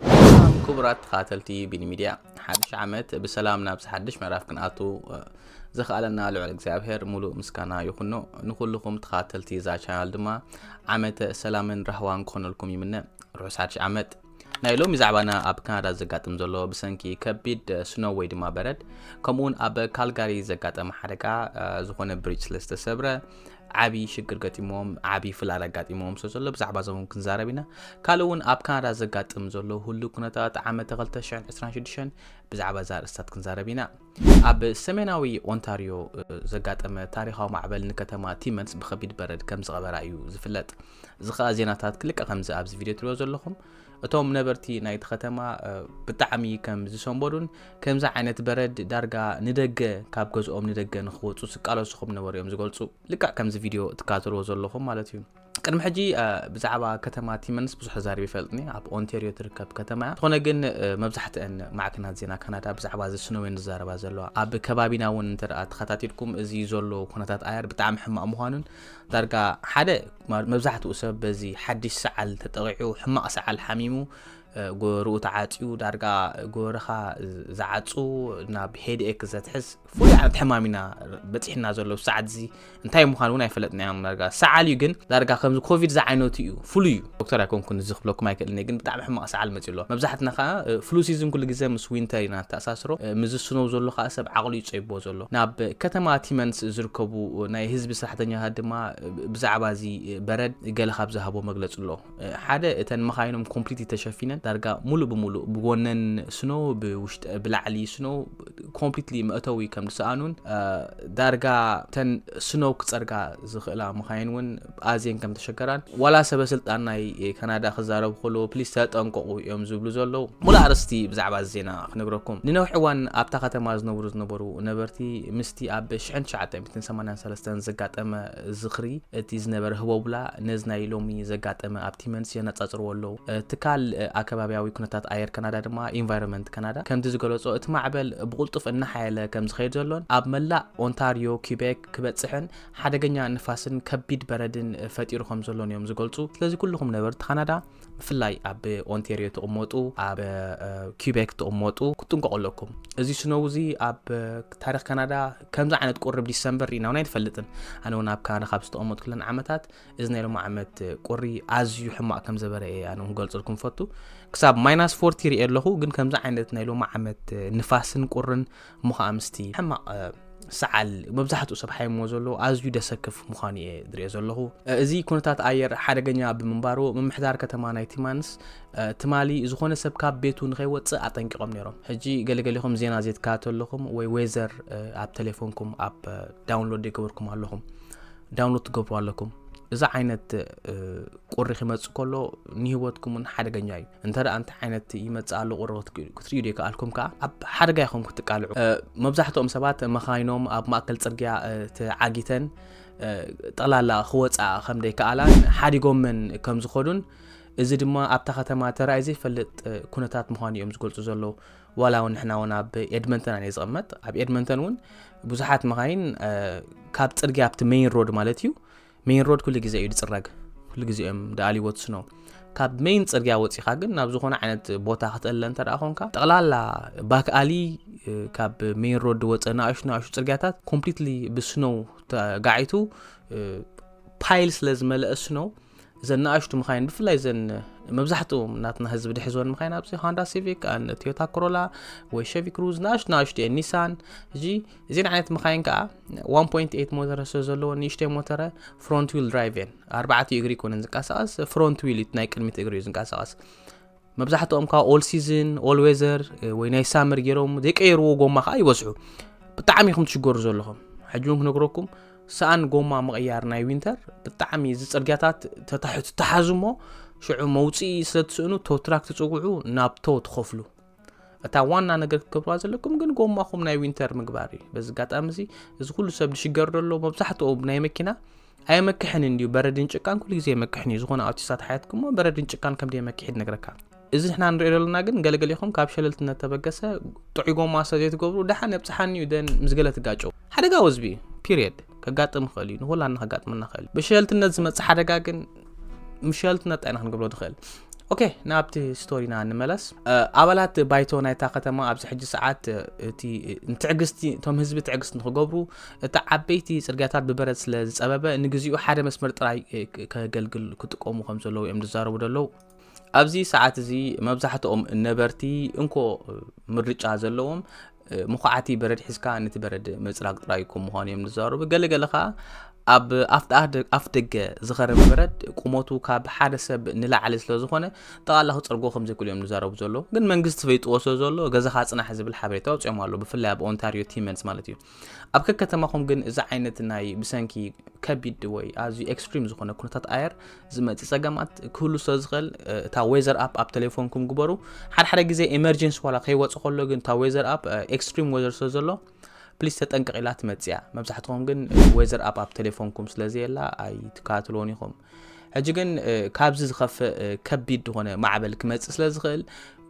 ሰላም ክቡራት ተኸታተልቲ ቢኒ ሚድያ ሓድሽ ዓመት ብሰላም ናብ ሓድሽ ምዕራፍ ክንኣቱ ዘኽኣለና ልዑል እግዚኣብሔር ሙሉእ ምስጋና ይኹኖ ንኹልኹም ተኸታተልቲ እዛ ቻናል ድማ ዓመተ ሰላምን ራህዋን ክኾነልኩም ይምነ ርሑስ ሓድሽ ዓመት ናይ ሎሚ ዛዕባና ኣብ ካናዳ ዘጋጥም ዘሎ ብሰንኪ ከቢድ ስኖ ወይ ድማ በረድ ከምኡውን ኣብ ካልጋሪ ዘጋጠመ ሓደጋ ዝኾነ ብሪጅ ስለ ዝተሰብረ ዓብዪ ሽግር ገጢሞዎም ዓብዪ ፍላል ኣጋጢሞዎም ስለ ዘሎ ብዛዕባ እዞም እውን ክንዛረብ ኢና ካልእ እውን ኣብ ካናዳ ዘጋጥም ዘሎ ህሉ ኩነታት ዓመተ 226 ብዛዕባ እዛ ርእስታት ክንዛረብ ኢና ኣብ ሰሜናዊ ኦንታሪዮ ዘጋጠመ ታሪካዊ ማዕበል ንከተማ ቲመንስ ብከቢድ በረድ ከም ዝቐበራ እዩ ዝፍለጥ እዚ ከዓ ዜናታት ክልቀ ከምዚ ኣብዚ ቪድዮ ትሪኦ ዘለኹም እቶም ነበርቲ ናይቲ ከተማ ብጣዕሚ ከም ዝሰንበዱን ከምዚ ዓይነት በረድ ዳርጋ ንደገ ካብ ገዝኦም ንደገ ንክወፁ ዝቃለሱ ከም ነበሩ እዮም ዝገልፁ ልክዕ ከምዚ ቪድዮ ትከታተልዎ ዘለኹም ማለት እዩ ቅድሚ ሕጂ ብዛዕባ ከተማ ቲመንስ ብዙሕ ተዛሪብ ይፈልጥኒ ኣብ ኦንቴሪዮ ትርከብ ከተማ እያ ዝኾነ ግን መብዛሕትአን ማዕከናት ዜና ካናዳ ብዛዕባ እዚ ስነወን ዝዛረባ ዘለዋ ኣብ ከባቢና እውን እንተ ተኸታቲልኩም እዚ ዘሎ ኩነታት ኣየር ብጣዕሚ ሕማቕ ምዃኑን ዳርጋ ሓደ መብዛሕትኡ ሰብ በዚ ሓድሽ ሰዓል ተጠቒዑ ሕማቕ ሰዓል ሓሚሙ ጎበርኡ ተዓፅዩ ዳርጋ ጎበርኻ ዝዓፁ ናብ ሄድኤክ ዘትሕዝ ፍሉይ ዓይነት ሕማም ኢና በፂሕና ዘሎ ሰዓት እዚ እንታይ ምዃኑ እውን ኣይፈለጥናዮም ዳርጋ ሰዓል እዩ ግን ዳርጋ ከምዚ ኮቪድ ዝዓይነቱ እዩ ፍሉይ እዩ ዶክተር ኣይኮንኩን እዚ ክብለኩም ኣይክእልን እየ ግን ብጣዕሚ ሕማቕ ሰዓል መጺኡ ኣሎ መብዛሕትና ከኣ ፍሉ ሲዝን ኩሉ ግዜ ምስ ዊንተር ኢና ንተኣሳስሮ ምዚ ስኖው ዘሎ ከኣ ሰብ ዓቕሉ እዩ ጸይብዎ ዘሎ ናብ ከተማ ቲመንስ ዝርከቡ ናይ ህዝቢ ስራሕተኛታት ድማ ብዛዕባ እዚ በረድ ገለ ካብ ዝሃቦ መግለጺ ኣሎ ሓደ እተን መኻይኖም ኮምፕሊት ተሸፊነን ዳርጋ ሙሉእ ብሙሉእ ብጎነን ስኖው ብውሽጢ ብላዕሊ ስኖው ኮምፕሊትሊ መእተዊ ከም ዝሰኣኑን ዳርጋ ተን ስኖው ክጸርጋ ዝኽእላ መኻይን እውን ኣዝየን ከም ተሸገራን ዋላ ሰበ ስልጣን ናይ ካናዳ ክዛረቡ ከለዉ ፕሊስ ተጠንቀቑ እዮም ዝብሉ ዘለዉ። ሙሉእ ኣርእስቲ ብዛዕባ እዚ ዜና ክነግረኩም። ንነዊሕ እዋን ኣብታ ከተማ ዝነብሩ ዝነበሩ ነበርቲ ምስቲ ኣብ ሽሕን ትሽዓተ ሚእትን ሰማንያን ሰለስተን ዘጋጠመ ዝኽሪ እቲ ዝነበረ ህቦብላ ነዚ ናይ ሎሚ ዘጋጠመ ኣብ ቲመንስ የነጻጽርዎ ኣለዉ። ትካል ኣከባብያዊ ኩነታት ኣየር ካናዳ ድማ ኢንቫይሮመንት ካናዳ ከምቲ ዝገለጾ እቲ ማዕበል ብቕልጡፍ እናሓየለ ከም ዝኸይድ ዘሎን ኣብ መላእ ኦንታርዮ፣ ኲቤክ ክበጽሕን ሓደገኛ ንፋስን ከቢድ በረድን ፈጢሩ ከም ዘሎን እዮም ዝገልጹ። ስለዚ ኩልኹም ነበርቲ ካናዳ ብፍላይ ኣብ ኦንቴርዮ ትቕመጡ፣ ኣብ ኪቤክ ትቕመጡ ክትጥንቀቑ ኣለኩም። እዚ ስነው እዚ ኣብ ታሪኽ ካናዳ ከምዚ ዓይነት ቁርብ ዲሰምበር ርኢና እውን ኣይንፈልጥን። ኣነ እውን ኣብ ካናዳ ካብ ዝተቐመጡ ክለን ዓመታት እዚ ናይ ሎሚ ዓመት ቁሪ ኣዝዩ ሕማቕ ከም ዘበረ እየ ኣነ ክገልጽልኩም ፈቱ። ክሳብ ማይናስ ፎርቲ ርኤ ኣለኹ፣ ግን ከምዚ ዓይነት ናይ ሎሚ ዓመት ንፋስን ቁርን እሞ ከዓ ምስቲ ሕማቕ ሰዓል መብዛሕትኡ ሰብ ሓይሞ ዘሎ ኣዝዩ ደሰክፍ ምዃኑ እየ ዝሪኦ ዘለኹ እዚ ኩነታት ኣየር ሓደገኛ ብምንባሩ ምምሕዳር ከተማ ናይ ቲማንስ ትማሊ ዝኾነ ሰብ ካብ ቤቱ ንኸይወፅእ ኣጠንቂቖም ነይሮም ሕጂ ገለገሊኹም ዜና ዘይትከታተሉ ኣለኹም ወይ ዌዘር ኣብ ቴሌፎንኩም ኣብ ዳውንሎድ የገበርኩም ኣለኹም ዳውንሎድ ትገብሩ ኣለኩም እዚ ዓይነት ቁሪ ክመጽእ ከሎ ንህይወትኩም እውን ሓደገኛ እዩ እንተ እንታይ ዓይነት ይመጽእ ኣሎ ቁሪ ክትርእዩ ዘይከኣልኩም ከዓ ኣብ ሓደጋ ኢኹም ክትቃልዑ መብዛሕትኦም ሰባት መኻይኖም ኣብ ማእከል ጽርግያ ተዓጊተን ጠቕላላ ክወፅኣ ከም ዘይከኣላን ሓዲጎመን ከም ዝኸዱን እዚ ድማ ኣብታ ከተማ ተራእዩ ዘይፈልጥ ኩነታት ምዃኑ እዮም ዝገልጹ ዘለዉ ዋላ እውን ንሕና እውን ኣብ ኤድመንተን ኣነ ዝቕመጥ ኣብ ኤድመንተን እውን ብዙሓት መኻይን ካብ ፅርግያ ኣብቲ ሜይን ሮድ ማለት እዩ ሜይን ሮድ ኩሉ ግዜ እዩ ዝፅረግ ኩሉ ግዜ እዮም ደኣልዎ ትስኖ ካብ ሜይን ፅርግያ ወፂኻ ግን ናብ ዝኾነ ዓይነት ቦታ ክትእለ እንተ ኮንካ ጠቕላላ ባክኣሊ ካብ ሜይን ሮድ ዝወፀ ንኣሹ ንኣሹ ፅርግያታት ኮምፕሊትሊ ብስኖው ተጋዒቱ ፓይል ስለ ዝመለአ ስኖው እዘን ንኣሽቱ ምኻይን ብፍላይ ዘን መብዛሕትኡ ናትና ህዝቢ ድሕዝወን ምኻይን ኣብዚ ሃንዳ ሲቪክ ቶዮታ ኮሮላ ወይ ሸቪ ክሩዝ ንኣሽቱ ንኣሽቱ እየን ኒሳን እዚ እዚን ዓይነት መኻይን ከዓ 1.8 ሞተረ ስለ ዘለዎ ንእሽተይ ሞተረ ፍሮንት ዊል ድራይቭ እየን ኣርባዕተ እግሪ ኮነን ዝንቀሳቐስ ፍሮንት ዊል ናይ ቅድሚት እግሪ እዩ ዝንቀሳቐስ መብዛሕትኦም ካብ ኦል ሲዝን ኦል ዌዘር ወይ ናይ ሳመር ገይሮም ዘይቀየርዎ ጎማ ከዓ ይበዝሑ ብጣዕሚ ኢኹም ትሽገሩ ዘለኹም ሕጂ እውን ክነግረኩም ሰኣን ጎማ ምቕያር ናይ ዊንተር ብጣዕሚ እዚ ፅርግያታት ተታሕቱ ተሓዙ እሞ ሽዑ መውፅኢ ስለ ትስእኑ ቶትራክ ትፅውዑ ናብ ቶ ትኸፍሉ እታ ዋና ነገር ክትገብርዋ ዘለኩም ግን ጎማኹም ናይ ዊንተር ምግባር እዩ በዚ ኣጋጣሚ እዚ እዚ ኩሉ ሰብ ዝሽገር ዘሎ መብዛሕትኡ ናይ መኪና ኣየመክሕን እንዲዩ በረድን ጭቃን ኩሉ ግዜ የመክሕን እዩ ዝኾነ ኣውቲስታት ሓያትኩሞ በረድን ጭቃን ከም የመክሕድ ነግረካ እዚ ንሕና ንሪኦ ዘለና ግን ገለገሊኹም ካብ ሸለልትነት ተበገሰ ጥዑይ ጎማ ሰ ዘይትገብሩ ደሓን የብፅሓኒ እዩ ደን ምስ ገለ ትጋጨው ሓደጋ ወዝቢ እዩ ፒሪየድ ከጋጥም ይኽእል እዩ ንኩላና ከጋጥመና ይኽእል እዩ ብሸለልትነት ዝመፅእ ሓደጋ ግን ምሸልትና እንታይ ኢና ክንገብሮ ንኽእል ኦኬ ናብቲ ስቶሪና ንመለስ ኣባላት ባይቶ ናይታ ከተማ ኣብዚ ሕጂ ሰዓት እቲ ንትዕግስቲ እቶም ህዝቢ ትዕግስቲ ንክገብሩ እቲ ዓበይቲ ፅርግያታት ብበረድ ስለ ዝፀበበ ንግዚኡ ሓደ መስመር ጥራይ ከገልግል ክጥቀሙ ከም ዘለዉ እዮም ዝዛረቡ ዘለዉ ኣብዚ ሰዓት እዚ መብዛሕትኦም ነበርቲ እንኮ ምርጫ ዘለዎም ምኹዓቲ በረድ ሒዝካ ነቲ በረድ ምፅራግ ጥራይ ከም ምዃኑ እዮም ዝዛረቡ ገለገለ ከዓ ኣብ ኣፍ ደገ ዝኸረመ በረድ ቁመቱ ካብ ሓደ ሰብ ንላዕሊ ስለ ዝኾነ ጠቓላ ክፀርጎ ከም ዘይክእሉ እዮም ዝዛረቡ ዘሎ ግን መንግስቲ ፈይጥዎ ስለ ዘሎ ገዛኻ ፅናሕ ዝብል ሓበሬታ ወፂኦም ኣሎ ብፍላይ ኣብ ኦንታሪዮ ቲመንስ ማለት እዩ ኣብ ከከተማኹም ግን እዚ ዓይነት ናይ ብሰንኪ ከቢድ ወይ ኣዝዩ ኤክስትሪም ዝኾነ ኩነታት ኣየር ዝመፅእ ፀገማት ክህሉ ስለ ዝኽእል እታ ዌዘር ኣፕ ኣብ ቴሌፎንኩም ግበሩ ሓደሓደ ግዜ ኤመርጀንሲ ዋላ ከይወፅ ከሎ ግን እታ ዌዘር ኣፕ ኤክስትሪም ዌዘር ስለ ዘሎ ፕሊስ ተጠንቀቂላ ትመፅያ መብዛሕትኹም ግን ዌዘር ኣፕ ኣብ ቴሌፎንኩም ስለዘየላ ኣይትከታተልዎን ኢኹም ሕጂ ግን ካብዚ ዝኸፍእ ከቢድ ዝኾነ ማዕበል ክመጽእ ስለ ዝኽእል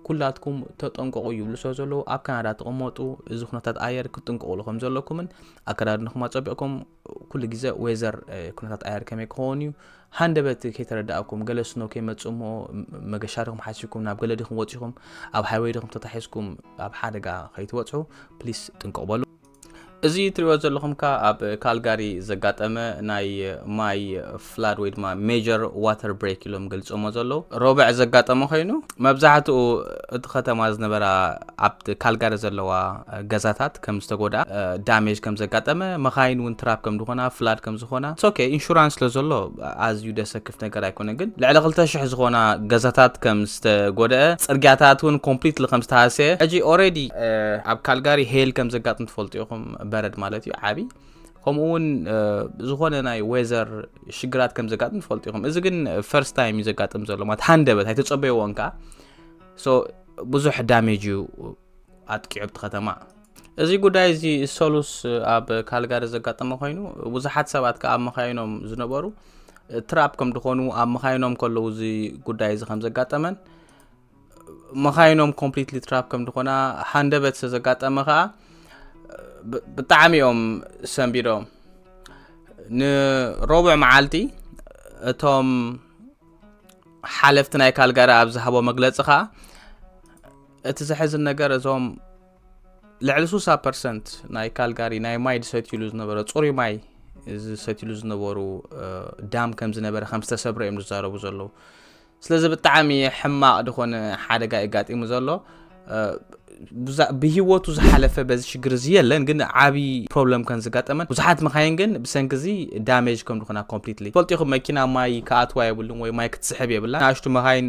ኩላትኩም ተጠንቀቑ ይብሉ ስለ ዘለዉ ኣብ ካናዳ ትቕመጡ እዚ ኩነታት ኣየር ክትጥንቀቑሉ ከም ዘለኩምን ኣከዳድንኹም ኣጸቢቕኩም ኩሉ ግዜ ወዘር ኩነታት ኣየር ከመይ ክኸውን እዩ ሃንደበት ከይተረዳእኩም ገለ ስኖ ከይመፅእ እሞ መገሻ ድኹም ሓሲብኩም ናብ ገለ ድኹም ወፂኹም ኣብ ሃይወይ ድኹም ተታሒዝኩም ኣብ ሓደጋ ከይትበፅሑ ፕሊስ ጥንቅቕ በሉ እዚ እትሪእዎ ዘለኹም ከኣ ኣብ ካልጋሪ ዘጋጠመ ናይ ማይ ፍላድ ወይ ድማ ሜጀር ዋተር ብሬክ ኢሎም ገልጾሞ ዘለዉ ሮብዕ ዘጋጠመ ኮይኑ መብዛሕትኡ እቲ ከተማ ዝነበራ ኣብ ካልጋሪ ዘለዋ ገዛታት ከም ዝተጎድኣ ዳሜጅ ከም ዘጋጠመ መኻይን እውን ትራፕ ከም ዝኾና ፍላድ ከም ዝኾና ሶኬ ኢንሹራንስ ስለ ዘሎ ኣዝዩ ደሰ ነገር ኣይኮነ ግን ልዕሊ ክልተ ሽሕ ዝኾና ገዛታት ከም ዝተጎደአ ፅርግያታት እውን ኮምፕሊትሊ ከም ዝተሃሰየ ሕጂ ኦሬዲ ኣብ ካልጋሪ ሄል ከም ዘጋጥም ትፈልጡ ኢኹም በረድ ማለት እዩ ዓብይ ከምኡ እውን ዝኾነ ናይ ወዘር ሽግራት ከም ዘጋጥም ትፈልጡ ኢኹም እዚ ግን ፈርስት ታይም እዩ ዘጋጥም ዘሎ ማለት ሃንደበት ኣይተፀበይዎን ከዓ ብዙሕ ዳሜጅ እዩ ኣጥቂዑቲ ከተማ እዚ ጉዳይ እዚ ሰሉስ ኣብ ካልጋሪ ዘጋጠመ ኮይኑ ብዙሓት ሰባት ከኣ ኣብ መኻይኖም ዝነበሩ ትራፕ ከም ዝኾኑ ኣብ መኻይኖም ከለዉ እዚ ጉዳይ እዚ ከም ዘጋጠመን መኻይኖም ኮምፕሊትሊ ትራፕ ከም ዝኾና ሃንደበት ስለ ዘጋጠመ ከኣ ብጣዕሚ እዮም ሰንቢዶም ንሮብዕ መዓልቲ እቶም ሓለፍቲ ናይ ካልጋሪ ኣብ ዝሃቦ መግለፂ ከኣ እቲ ዘሕዝን ነገር እዞም ልዕሊ ሱሳ ፐርሰንት ናይ ካልጋሪ ናይ ማይ ዝሰትዩሉ ዝነበረ ፅሩይ ማይ ዝሰትዩሉ ዝነበሩ ዳም ከም ዝነበረ ከም ዝተሰብረ እዮም ዝዛረቡ ዘለዉ ስለዚ ብጣዕሚ ሕማቕ ዝኾነ ሓደጋ የጋጢሙ ዘሎ ብሂወቱ ዝሓለፈ በዚ ሽግር እዚ የለን ግን ዓብዪ ፕሮብለም ከም ዝጋጠመን ብዙሓት መካይን ግን ብሰንኪ እዚ ዳሜጅ ከም ዝኾና ኮምፕሊትሊ ፈልጢኹም መኪና ማይ ከኣትዋ የብሉን ወይ ማይ ክትስሕብ የብላ ንኣሽቱ መካይን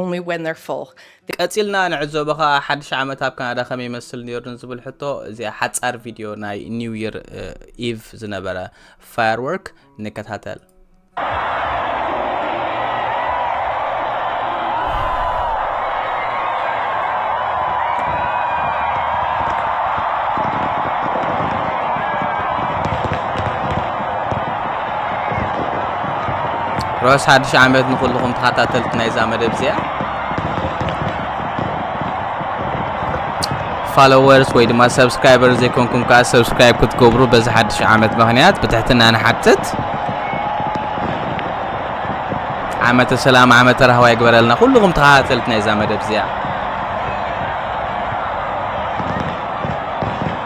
only when they're full. ቀጺልና ንዕዘቦ ከኣ ሓድሽ ዓመት ኣብ ካናዳ ከመይ ይመስል ነይሩ ንዝብል ሕቶ እዚኣ ሓጻር ቪድዮ ናይ ኒው ይር ኢቭ ዝነበረ ፋየርወርክ ንከታተል። ሮስ ሓድሽ ዓመት ንኹልኹም ተኸታተልቲ ናይዛ መደብ እዚኣ ፋሎወርስ ወይ ድማ ሰብስክራይበር ዘይኮንኩም ከዓ ሰብስክራይብ ክትገብሩ በዚ ሓድሽ ዓመት ምክንያት ብትሕትና ንሓትት ዓመተ ሰላም ዓመተ ራህዋ ይግበረልና ኩልኹም ተኸታተልቲ ናይዛ መደብ እዚኣ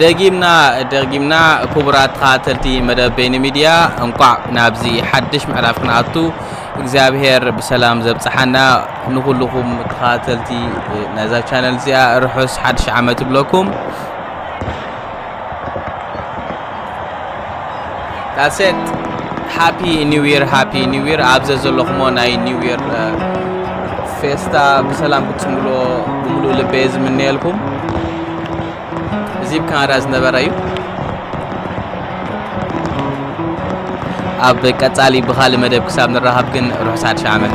ደጊምና ደጊምና ክቡራት ተኸታተልቲ መደብ በይኒ ሚድያ እንቋዕ ናብዚ ሓድሽ ምዕራፍ ክንኣቱ እግዚኣብሄር ብሰላም ዘብፅሓና ንኩልኹም ተኸታተልቲ ናይዛ ቻነል እዚኣ ርሑስ ሓድሽ ዓመት ይብለኩም ዳሴት ሃፒ ኒው ይር ሃፒ ኒው ይር ኣብ ዘዘለኹሞ ናይ ኒው ይር ፌስታ ብሰላም ክትፅምብልዎ ብምሉእ ልበየ ዝምነየልኩም እዚ ብ ካናዳ ዝነበረ እዩ ኣብ ቀጻሊ ብኻልእ መደብ ክሳብ ንራኸብ ግን ርሑስ ሓድሽ ዓመት